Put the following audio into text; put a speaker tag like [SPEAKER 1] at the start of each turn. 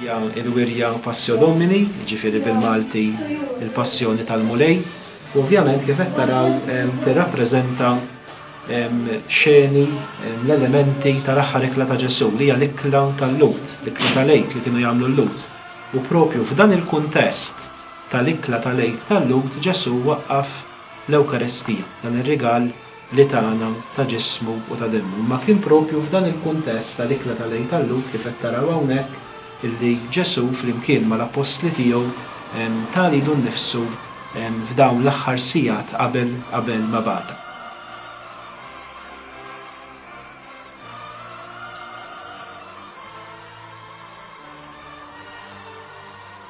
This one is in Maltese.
[SPEAKER 1] hija l-wirja Passio Domini, ġifiri bil-Malti il-Passjoni tal-Mulej. U ovvjament kif qed taraw tirrappreżenta xeni l-elementi tal-aħħar ikla ta' Ġesu li hija l-ikla tal-Lut, l-ikla tal-Lejt li kienu jagħmlu l-Lut. U propju f'dan il-kuntest tal-ikla tal-Għid tal-Lhud Ġesù waqqaf l-Ewkaristija, dan ir-rigal li tana ta' ġismu u ta' demmu. Imma kien proprju f'dan il-kuntest tal-ikla tal-Għid tal-Lhud, kif qed taraw hawnhekk, illi Ġesù flimkien mal-Appostli tiegħu ta lidu nnifsu f'dawn l-aħħar sigħat qabel qabel ma bata.